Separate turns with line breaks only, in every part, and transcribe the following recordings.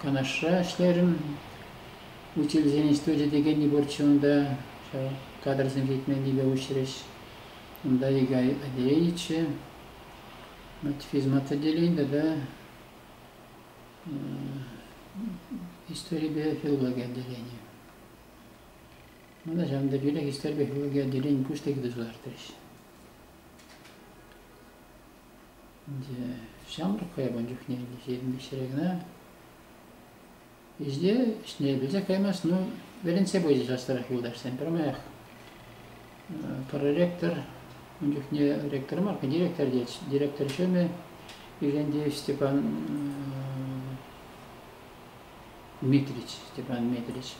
Канашра ӗҫлерӗм. Учительсен институчӗ текенни пурччӗ унта. Ҫав кадрсем ҫитменнипе уҫрӗҫ. Унта Игорь Адеевиче физмат отделен тата историпе филологи отделенийӗ. Мана ҫавӑн пекех Истерпе Хӗвелке Отделен пуҫлӑхӗ те кӑтартрӗҫ. 이제 ҫамрӑк каябан чухне ҫирӗнпе ҫӗре кӑна ӗҫне ӗҫне пӗлсе каймасть, ну, вӗрентсе пычӗ часрах юлташсем. Пӗрмаях проректор, ун чухне ректор мар, директор тет, директор ҫумӗ Ӳкентеев Степан Дмитрич, Степан Дмитрич.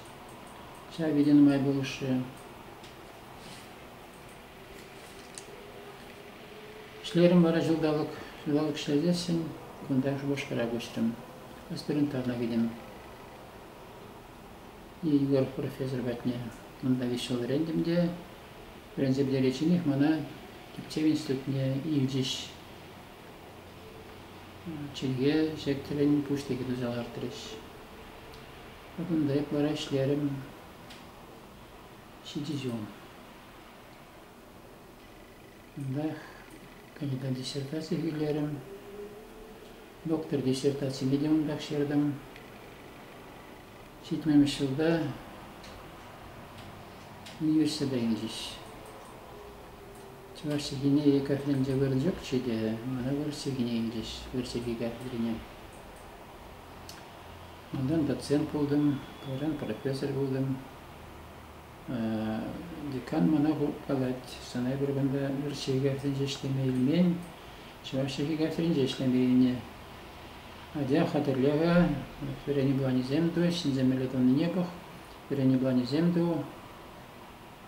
Ҫав вите нумай пулӑшрӗ. Ӗҫлерӗм вара ҫулталӑк, ҫулталӑк ӗҫлесен кунта Шупашкара куҫрӑм. Аспирантурӑна кӗтӗм. Егор профессор патне. Унта виҫ ҫул вӗрентӗм те вӗренсе пӗтеричченех мана тӗпчев институтне илчӗҫ. чӗлхе ҫектӗлӗн пуҫлӑхӗ туса лартрӗҫ. Кунта ытлара ӗҫлерӗм. Ҫичӗ ҫул. Унтах кандидат диссертаци илерӗм. Доктор диссертацине те унтах ҫыртӑм. Ҫитмӗмӗш ҫулта нимӗҫсӗр те илчӗҫ. Чӑваш чӗлхине Екатеринче вырӑнчӑкчӗ те, мана вырӑс чӗлхине илчӗҫ, вырӑс чӗлхи Екатерине. Унтан доцент пултӑм, кайран профессор пултӑм. Декан мана хуркалать, сана эпир кунта вырӑс чӗлхи Екатеринче ӗҫлеме илмен, чӑваш чӗлхи Екатеринче ӗҫлеме илнӗ. Атя хатӗрлӗхӗ, вӗренӳ планӗсем ту, ҫӗнсе меле тӑнине пӑх, вӗренӳ планӗсем ту.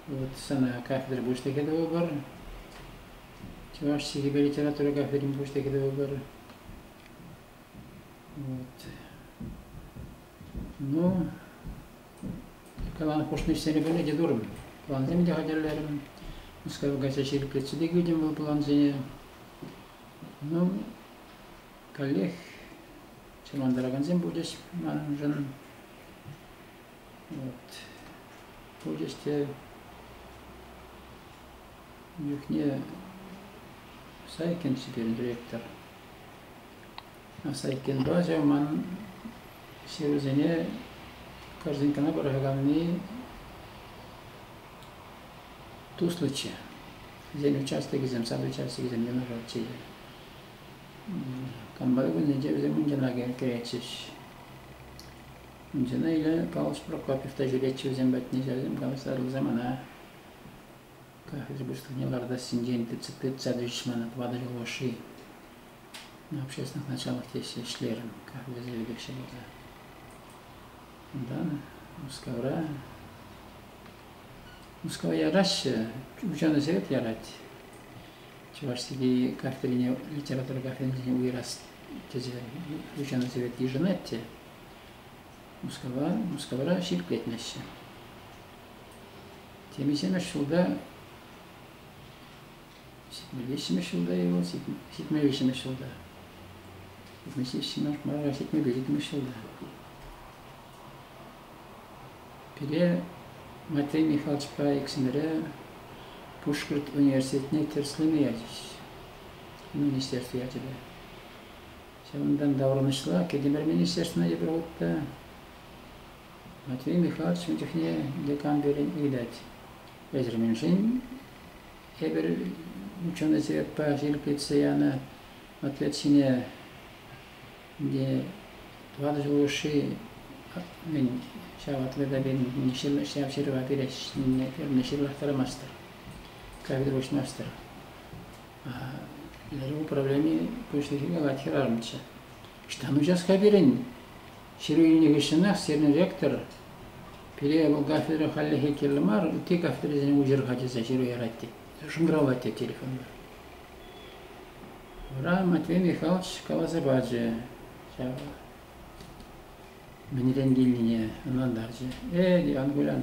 Вот сана кафедра пуҫлӑхӗ тӑвӑпӑр. Чӑваш чӗлхипе литература кафедрин пуҫлӑхӗ тӑвӑпӑр. Вот. Ну, каланӑ хушнӑ ӗҫсене пӗлнӗ те турӑм. Плансем те хатӗрлерӗм. Мускав кайса ҫирӗплетсе те килтӗм вӑл плансене. Ну, каллех чӑрмантаракансем пулчӗҫ маншӑн. Вот. Пулчӗҫ те чухне Сайкин текен директор. Сайкинпа ҫав ман ҫырусене корзинкана пӑрахаканни туслӑччӗ. Вӗсен участокӗсем, сад-участокӗсем виноватчӗ. Комбайн кунӗнче вӗсем мунчӑнаке кӗретчӗҫ. Мунчана иле Калӑш Прокопьев та ҫӳретчӗ вӗсем патне, ҫавсем калаштарнӑ самана. Кафедра пуҫлӑхне лартассинчен тытса тӳчӗҫ мана тӑватӑ ҫул хушши. Общественных началах теҫҫӗ ӗҫлерӗм кафедра заведующий пулса. Унтан Мускавра Мускава яраҫҫӗ, ученӑйсем те ярать. Чӑвашсене картине, литература картине уйӑрас тесе ученӑйсем йышӑнать те. Мускава, Мускавра ҫирӗплетмеҫҫӗ. Темиҫемӗш ҫулта Ҫитмӗлвиҫҫӗмӗш ҫулта ему, ҫитмӗлвиҫҫӗмӗш ҫулта. Ҫитмӗлвиҫҫӗмӗш мая ҫитмӗлвиҫҫӗмӗш ҫулта. Пире Матвей Михайловичпа иксӗмӗре Пушкӑрт университетне тӗрӗслеме ячӗҫ министерство ячӗпе. Ҫавӑнтан таврӑнӑҫла Кӗтимӗр министерствӑна тепӗр хут та Матвей Михайлович ун чухне декан пирӗн илет. Эсир мӗншӗн тепӗр ученӑйсем пӗр ирӗклетсе янӑ ответ ҫине тӑватӑ ҫул хушши мӗн ҫав ответа ҫав ҫырӑва пернӗ ҫырлахтармастӑр кафедра уҫмастӑр управлени пуҫлӑхӗ калать хӗрарӑмччӗ ӑҫтан уҫас-ха пирӗн Ҫыру илнӗ хыҫҫӑнах сирӗн ректор пире вӑл кафедра хальлӗхе кирлӗ мар, ытти кафедрӑсене уҫӑр-ха тесе ҫыру ярать тет. Шӑнкӑравлать те телефонпа. Вара Матвей Михайлович каласа пачӗ ҫав мӗнрен килнине, ӑнлантарчӗ. Э, Ангулян,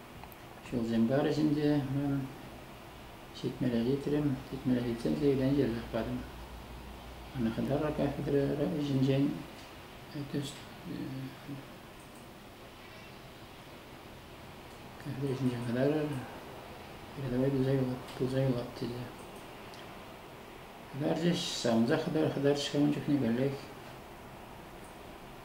Ҫулсем парӗҫ ӗнтӗ унӑн. Ҫитмӗле ҫитрӗм. Ҫитмӗле ҫитсен сиюлен йӗрсех патӑм. Ана хытаракан хытарара ӗҫӗнчен тӗс кӗрсе ӗҫӗнчен хытарар, передовой туса юлат, туса юлат тесе. Хытарчӗҫ, савӑнса хытар, хытарчӗҫ ун чухне каллех.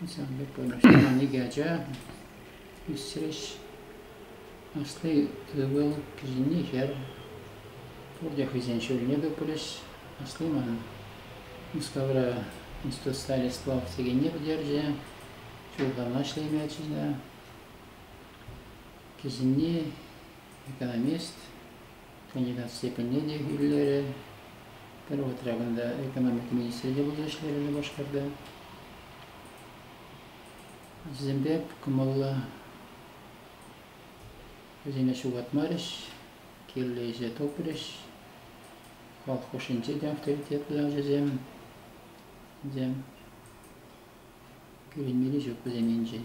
Ансамбль вырнаҫтарман икӗ ача ӳсрӗҫ. Асли ывӑл, кӗҫӗнни хӗр. Пурте хӑйсен ҫулне тухрӗҫ. Асли манӑн Мускавра институт стали сплав текенне пӗтерчӗ. Ҫулталӑкна ӗҫлемелчӗ те. Кӗҫӗнни экономист. Кандидат степенне те илерӗ. Пӗр вӑхӑтра кунта экономика министрӗ те пулса ӗҫлерӗ Шупашкарта. Вӗсемпе кӑмӑллӑ вӗсене ҫухатмарӗҫ, кирлӗ ӗҫе тупрӗҫ. Халӑх хушшинче те авторитетлӑ ачасем. Вӗсем кӳренмелли ҫук вӗсем енчен.